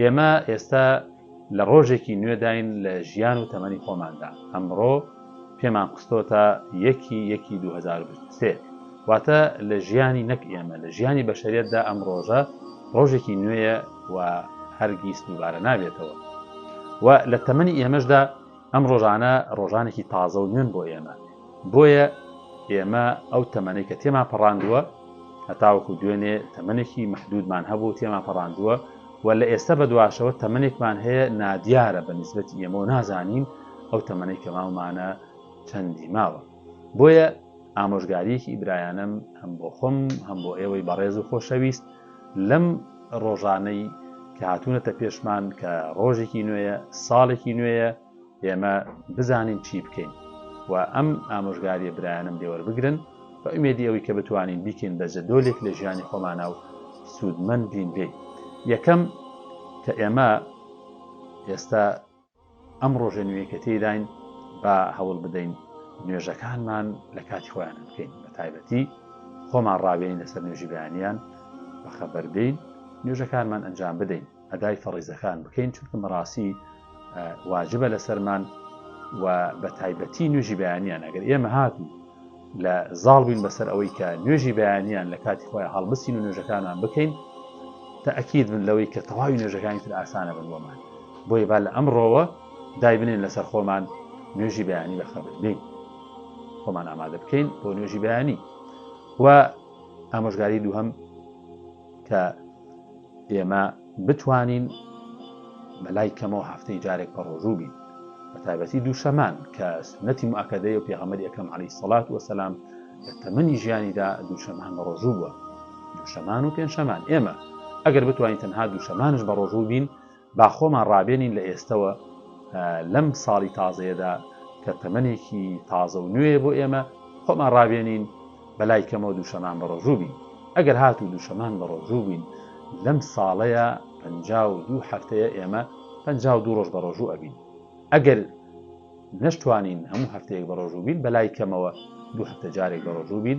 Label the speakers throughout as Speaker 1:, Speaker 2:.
Speaker 1: ئێمە ئێستا لە ڕۆژێکی نوێداین لە ژیان و تەمەنی خۆماندا، ئەمڕۆ پێمان قستۆتە یەکی یەکی دوو هەزار و بیست و سێ، واتە لە ژیانی نەک ئێمە لە ژیانی بەشەریەتدا ئەم ڕۆژە ڕۆژێکی نوێیە و هەرگیز دووبارە نابێتەوە و لە تەمەنی ئێمەشدا ئەم ڕۆژانە ڕۆژانێکی تازە و نوێن بۆ ئێمە. بۆیە ئێمە ئەو تەمەنەی کە تێمان پەڕاندووە هەتاوەکو دوێنێ تەمەنێکی محدودمان هەبوو تێمان پەڕاندووە و لە ئێستا بە دواشەوە تەمەنێکمان هەیە نادیارە بە نسبەتی ئێمەوە نازانین ئەو تەمەەی کە ماومانە چەندی ماوە بۆیە ئامۆژگاریەکی ئیبرایانم هەم بۆ خۆم هەم بۆ ئێوەی بەڕێز و خۆشەویست لەم ڕۆژانەی کە هاتوونەتە پێشمان کە ڕۆژێکی نوێیە ساڵێکی نوێیە ئێمە بزانین چی بکەین و ئەم ئامۆژگاریە برایانەم لێ وەربگرن بە ئومێدی ئەوەی کە بتوانین بیکەین بە جەدۆلێک لە ژیانی خۆمانە و سوودمەند بین لێی یەکەم کە ئێمە ئێستا ئەم ڕۆژە نوێی کە تێداین با هەوڵ بدەین نوێژەکانمان لە کاتی خۆیان بکەین بە تایبەتی خۆمان ڕاوێنین لەسەر نوێژی بەیانیان بەخەبەر بین نوێژەکانمان ئەنجام بدەین ئەدای فەڕیزەکان بکەین چونکە مەراسی واجبە لەسەرمان و بە تایبەتی نوێژی بەیانیان ئەگەر ئێمە هاتوو لە زاڵ بووین بەسەر ئەوەی کە نوێژی بەیانیان لە کاتی خۆی هەڵبسین و نوێژەکانمان بکەین تاکیید من لەوەی کە تەواوی نوێژەکانی تر ئاسانە بن بۆمان بۆیە با لە ئەمڕۆوە دای بنێن لەسەر خۆمان نوێژی بەیانی بەخەبرین خۆمان ئامادە بکەین بۆ نوێژی بەیانی و ئامۆژگاری دووهم کە ئێمە بتوانین بەلای کەمەوە هەفتەی جارێک پەڕۆژوو بین بە تایبەتی دووشەمان کە سنەتی مؤکدەی و پێغەمەری ئەکەم علی سەڵات وەسەسلام لە تەمەنی ژیانیدا دووشەمان بە ڕۆژوو بووە دووشەمان و پێنجشەمان ئێمە ئەگەر بتوانین تەنها دووشەمانش بە ڕۆژوو بین با خۆمان ڕابێنین لە ئێستەوە لەم ساڵی تازەیەدا کە تەمەنێکی تازە و نوێیە بۆ ئێمە، خۆمان ڕابێنین بەلای کەمەوە دووشەمان بەڕۆژوو بین. ئەگەر هاتوو دووشەمان بەڕۆژوو بین لەم ساڵەیا پەنجا و دوو هەفتەیە ئێمە پەنجا و دوو ڕۆژ بەڕۆژوو ئەبین. ئەگەر نەشتوانین هەموو هەفتەیەک بەڕۆژوو بین بەلای کەمەوە دوو هەفتە جارێک بەڕۆژوو بین.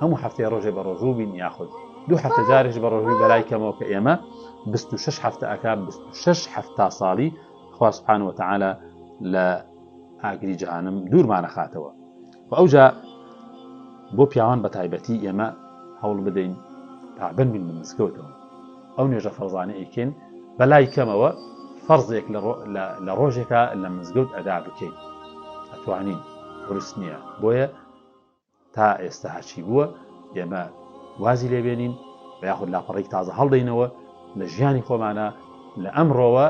Speaker 1: هەموو هەفتەی ڕۆژێ بە ڕۆژوو بین یاخود دوو هەفتە جارێش بە ڕۆژووی بەلای کەمەوە کە ئێمە 26 هەفتە ئەک 26 هەفتا ساڵی خواسبحان وتەعاالە لە ئاگری جەهانم دوورمانە خاتەوە و ئەوجا بۆ پیاوان بە تایبەتی ئێمە هەوڵ بدەین پابن بین بە مسکەوتەوە ئەو نێژە فەرزانە ئەیکەین بەلای کەمەوە فەرزێک لە ڕۆژێکە لە مزگەوت ئەدا بکەین ئەتوانین ورس نییە بۆیە تا ئێستا هەرچی بووە ئێمە وازی لێبێنین و یاخود لاپەڕێک تازە هەڵدەینەوە لە ژیانی خۆمانە لە ئەمڕۆوە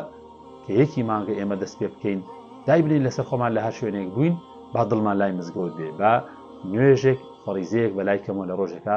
Speaker 1: کە یەکی مانگە ئێمە دەست پێ بکەین دایبنین لەسەر خۆمان لە هەر شوێنێک بووین با دڵمان لای مزگەوت بێ با نوێژێک فەڕیزەیەک بە لای کەمەوە لە ڕۆژێکە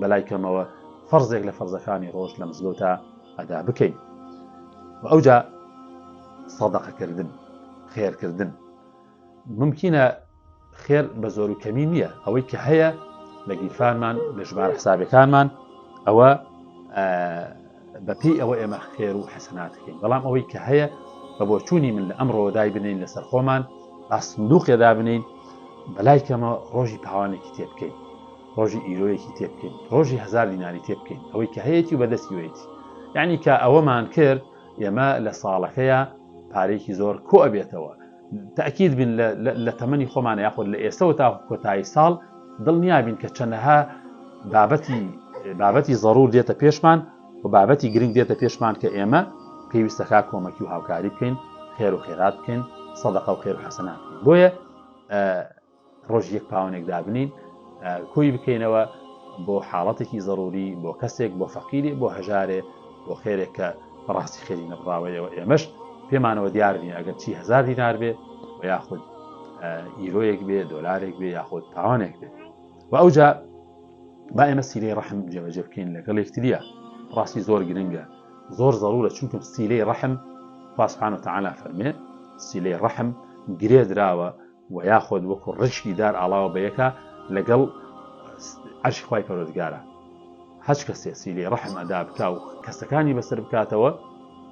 Speaker 1: بەلای کەمەوە فەرزێک لە فەرزەکانی ڕۆژ لە مزگەوتا ئەدا بکەین و ئەوجا سەدەقەکردن خێرکردن ممکنە خێر بە زۆر و کەمی نییە ئەوەی کە هەیە لە گیرفانمان لە ژمارە حسابەکانمان ئەوە بەپی ئەوە ئێمە خێر و حەسەناتەکەین بەڵام ئەوەی کە هەیە بە بۆچوونی من لە ئەمڕۆدای بنین لەسەر خۆمان ئاسندوقێدا بنین بەلای کەمە ڕۆژی پاوانێکی تێبکەین ڕۆژی ئیرۆیەکی تێ بکەین ڕۆژی هزار دیناری تێ بکەین ئەوەی کە هەیەی و بەدەستی وێتی یعنی کە ئەوەمان کرد ئێمە لە ساڵەکەیە پارێکی زۆر کۆ ئەبێتەوە تاکیید بین لە تەمەنی خۆمان یاخود لە ئێستەوە تا کۆتایی ساڵ دڵنیا بین کە چەندەها بابەتی بابەتی ضرور دێتە پێشمان و بابەتی گرنگ دێتە پێشمان کە ئێمە پێویستەکە کۆمەکی و هاوکاری بکەین خێر و خێرات بکەین سەدەقە و خێر و حەسەنات بۆیە ڕۆژی یەک پاوەنێک دابنین کۆی بکەینەوە بۆ حاڵەتێکی زەروری بۆ کەسێک بۆ فەقیری بۆ هەژارێ بۆ خێرێک کە بەڕاستی خێری نەبڕاوەیەوە ئێمەش پێمانەوە دیار بین ئەگەر چی هزار دینار بێ و یاخود ئیرۆیەک بێ دۆلارێک بێ یاخود پاوانێک بێ و ئەوجا با ئێمە سیرەی ڕحم جێبەجێ بکەین لەگەڵ یەکتریە ڕاستی زۆر گرنگە زۆر زەرورە چونکەم سیلەی ڕحم خواسبحانە تەعالا فەرمێ سیلەی ڕحم گرێ دراوە وە یاخود وەکو ڕیشکی دار ئاڵاوە بە یەکا لەگەڵ عەرشی خوای پەروەردگارا هەچ کەسێ سیلەی ڕەحم ئەدا بکا و کەسەکانی بەسەر بکاتەوە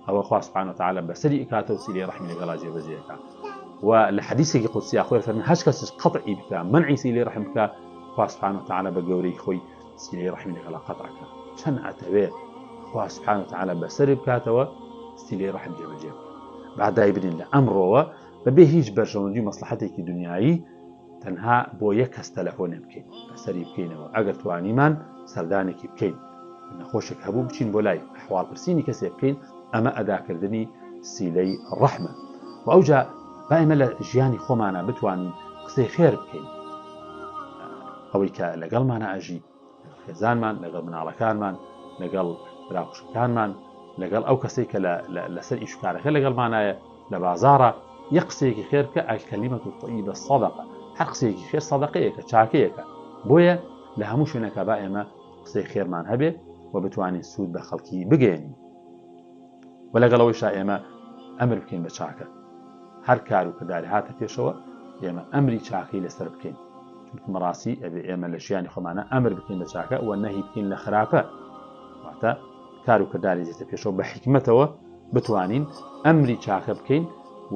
Speaker 1: ئەوە خوا سبحانە وتعالی بەسەری ئکاتە و سیلەی ڕەحمی لەگەڵا جێبەجێەکە و لە حەدیسێکی قودسیا خۆی فەرمی هەچ کەسش قەطعی بکا منعی سیلەی ڕەحم بکا خوا سبحانە وتعالی بە گەورەی خۆی سیلەی ڕەحمی لەگەڵا قەطعەکە چەند ئەتەوێ خوا سبحانە وتعالی بەسەری بکاتەوە سیلەی ڕەحم جێبەجێ بکە با دایبنین لە ئەمڕۆوە بەبێ هیچ بەرژەوەندی و مەسڵەحەتێکی دونیایی تەنها بۆ یەک کەس تەلەفۆنێ بکەین بەسەری بکەینەوە ئەگەر توانیمان سەردانێکی بکەین نەخۆشێک هەبوو بچین بۆ لای حواڵ پرسینی کەسێ بکەین ئەمە ئەداکردنی سیلەی ڕەحمە و ئەوجا با ئێمە لە ژیانی خۆمانە بتوانین قسەی خێر بکەین ئەوەی کە لەگەڵمانە ئەژی لەگەڵ خێزانمان، لەگەڵ مناڵەکانمان، لەگەڵ برا خوشکەکانمان، لەگەڵ ئەو کەسەی کە لەسەر ئیش و کارەکە لەگەڵمانایە، لە بازاڕە، یەک قسەیەکی خێر بکە، الکلیمە الطیبە صدقە، هەر قسەیەکی خێر سەدەقەیەکە، چاکەیەکە، بۆیە لە هەموو شوێنێکا با ئێمە قسەی خێرمان هەبێ و بتوانین سوود بە خەڵکی بگەیەنین. و لەگەڵ ئەوەیشا ئێمە ئەمر بکەین بە چاکە هەر کار و کرداری هاتە پێشەوە ئێمە ئەمری چاکەی لەسەر بکەین چونکە مەڕاستی ئەبێ ئێمە لە ژیانی خۆمانە ئەمر بکەین بە چاکە و نەهی بکەین لە خراپە واتە کار و کرداری زیتە پێشەوە بە حکمتەوە بتوانین ئەمری چاکە بکەین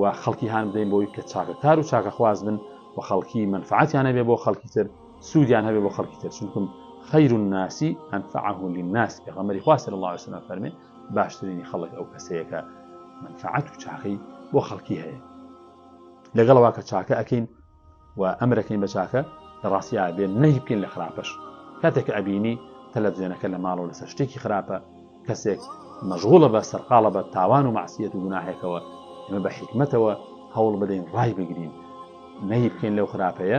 Speaker 1: و خەڵکی هاان بدەین بۆی کە چاکە کار و چاکە خواز بن و خەڵکی منفعاتیانە بێ بۆ خەڵکی تر سوودیان هەبێ بۆ خەڵکی تر چونکم خەیر و ناسی ئەنفعه للناس پێغەمبەری خوا صلی الله عليه وسلم فەرمێ باشترینی خەڵک ئەو کەسەیە کە منفعات و چاکەی بۆ خەڵکی هەیە لەگەڵەوە کە چاکە ئەەکەین و ئەمرەکەین بە چاکە لە ڕاستیا بێن نەهی بکەین لە خراپەش کاتێک ئەبینی تەلەڤزیۆنەکە لە ماڵەوە لەسەر شتێکی خراپە کەسێک مەژغوڵە بە سەرقاڵە بە تاوان و مەعسیەت و گوناهێکەوە ئمە بە حیکمەتەوە هەوڵ بدەین ڕای بگرین نەهی بکەین لەو خراپەیە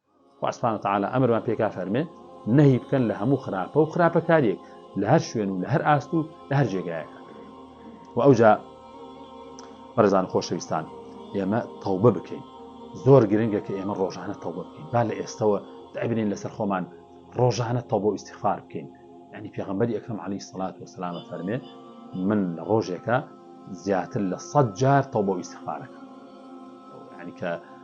Speaker 1: خوا سبحانە وتعالی ئەمرمان پێکا فەرمێ نەهی بکەن لە هەموو خراپە و خراپەکاریەک لە هەر شوێن و لە هەر ئاست و لە هەر جێگایەکە و ئەوجا بەڕێزان خۆشەویستان ئێمە تەوبە بکەین زۆر گرنگە کە ئێمە ڕۆژانە تەوبە بکەین با لە ئێستەوە دابنین لەسەر خۆمان ڕۆژانە تەوبە و ئیسیخفار بکەین ینی پێغمبەری ئەکرم علی سڵات و سلامە فەرمێ من لە ڕۆژێکە زیاتر لە سەد جار تەوبە و ئیسیخفارەکە ینی کە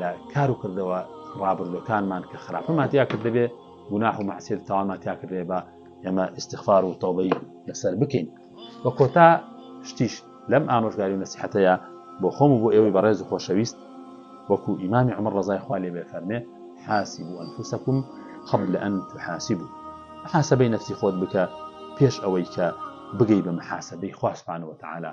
Speaker 1: لە کار و کردەوە ڕابردوەکانمان کە خراپەمان تیا کرد دەبێ گوناح و مەعسیەت تاوانمان تیا کردێ بە ئێمە ئیسیغفار و تەوبەی لەسەر بکەین وە کۆتا شتیش لەم ئامۆژگاری و نەسیحەتەیە بۆ خۆم و بۆ ئێوەی بەڕێز و خۆشەویست وەکو ئیمامی عمر ڕزای خوا لێ بێ فەرمێ حاسب و ئەنفوسەکم قبل ئەن تحاسب و حاسبەی نفسی خۆت بکە پێش ئەوەی کە بگەی بە محاسبەی خوا سبحانه وتعالى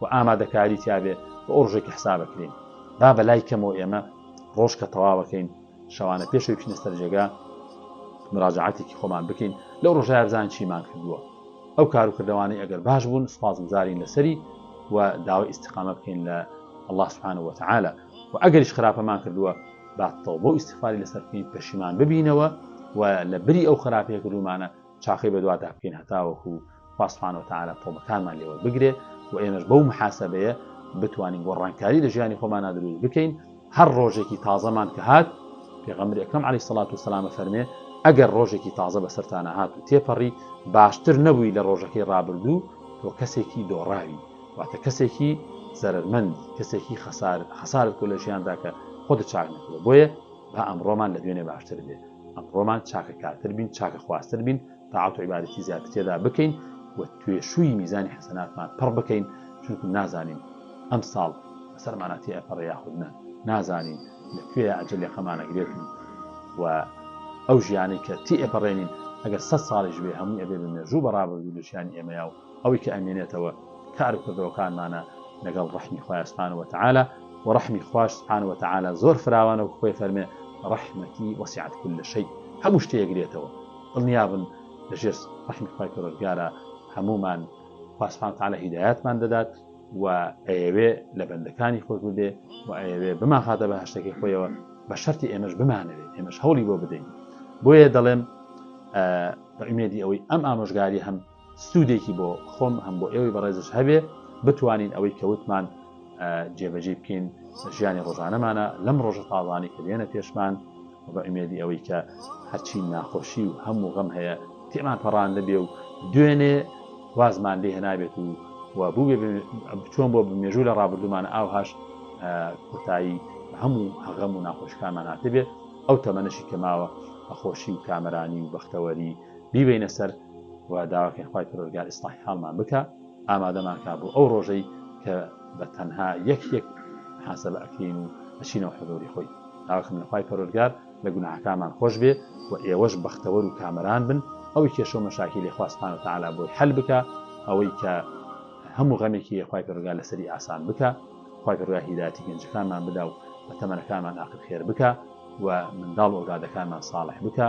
Speaker 1: و ئامادەکاری تیابێ و ئەو ڕژێکی حساب ئەکرێین با بەلای کەمەوە ئێمە ڕۆژ کە تەواوەکەین شەوانە پێشەوی بچینە سەر جێگا مراجعاتێکی خۆمان بکەین لەو ڕۆژای بزان چیمان کردووە ئەو کار و کردوانەی ئەگەر باش بوون سپاس گوزارین لەسەری و داوای ئیسیقامە بکەین لە الله سبحانە وتعاالە و ئەگەریش خراپەمان کردووە باتەوە بۆ ئیسیفاری لەسەر بکەین پەشیمان ببینەوە و لە بری ئەو خراپەیە کردومانە چاخەی بەدوادا بکەین هەتاوەکو خوا سبحانە وتعالی تۆبەکانمان لێوەربگرێ و ئێمەش بەو محاسەبەیە بتوانین گۆڕانکاری لە ژیانی خۆمانا دروست بکەین هەر ڕۆژێکی تازەمان کە هات پێغەمبری ئەکرم علی سەلات و سەلامە فەرمێ ئەگەر ڕۆژێکی تازە بەسەرتانە هات و تێپەڕی باشتر نەبووی لە ڕۆژەکەی ڕابردوو تۆ کەسێکی دۆڕاوی واتە کەسێکی زەرمەند کەسێکی خەسار خەسارت کو لە ژیانداکە خۆت چاک نکرێ بۆیە با ئەمڕۆمان لە دوێنێ باشتر بێت ئەمڕۆمان چاکە کارتر بین، چاکە خوازتر بین، تاعەت و عیبادەتی زیاتر تێدا بکەین و توێشووی میزانی حەسەناتمان پڕ بکەین، چونکو نازانین ئەمساڵ بەسەرمانا تێ ئەپەڕێ یاخود نا، نازانین لە کوێیا ئەجەل یەقەمان ئەگرێت و ئەو ژیانەی کە تێ ئەپەڕێنین ئەگەر سەد ساڵیش بێ هەمووی ئەبێ بە مێژوو بە ڕابردوو لە ژیانی ئێمەیا و ئەوەی کە ئەمێنێتەوە کار و کردەوەکانمانە لەگەڵ ڕەحمی خوای سبحانە وتعالی وە ڕەحمی خواش سبحانە وتعالی زۆر فراوانە وەکو خۆی فەرمێ ڕەحمەتی وەسیعەت کل شەی هەموو شتێ ئەگرێتەوە دڵنیابن لە ژێر ڕەحمی خوای پەروەردگارە هەموومان خوا سبحانە وتعالی هیدایەتمان دەدات و ئەیەوێ لە بەندەکانی خۆش ببێ و ئەیەوێ بمانخاتە بە هەشتەکەی خۆیەوە بە شەرتی ئێمەش بمانەوێت ئێمەش هەوڵی بۆ بدەین بۆیە دەڵێم بە ئومێدی ئەوەی ئەم ئامۆژگاری هەم سودێکی بۆ خۆم هەم بۆ ئێوەی بەڕێزش هەبێ بتوانین ئەوەی کە وتمان جێبەجێ بکەین ژیانی ڕۆژانەمانە لەم ڕۆژە تاڵانی کە دێنە پێشمان بە ئومێدی ئەوەی کە هەرچی ناخۆشی و هەموو غەم هەیە تێمان پەڕان نەبێ و دوێنێ وازمان لێ هێنابێت و و بووێ بچۆن بۆ بمێژوو لە ڕابردومان ئاوهاش کۆتایی هەموو هەغەم و ناخۆشکانمان هاتبێت ئەو تەمەنەشی کە ماوە بەخۆشی و کامرانی و بەختەوەری بیبەینە سەر و داواکەین خوای پەروەرگار ئیسلاحی حاڵمان بکا ئامادەمان کا بۆ ئەو ڕۆژەی کە بە تەنها یەک یەک حاسە بە ئەکرین و ئەچینەوە حەزۆری خۆی داواکەم لە خوای پەروەرگار لە گوناحەکانمان خۆش بێ و ئێوەش بەختەوەر و کامەران بن ئەوەی کێشە و مەشاکی لێ خوا سبحانە وتعالی بۆی حەل بکا ئەوەی کە هەموو غەمێکی یەخوای پەرگار لەسەری ئاسان بکە خی پرگا هیداتی گەنجەکانمان بدا و بە تەمەەکانمان ئاخر خێر بکە و منداڵ ئۆرادەکانمان ساڵح بکە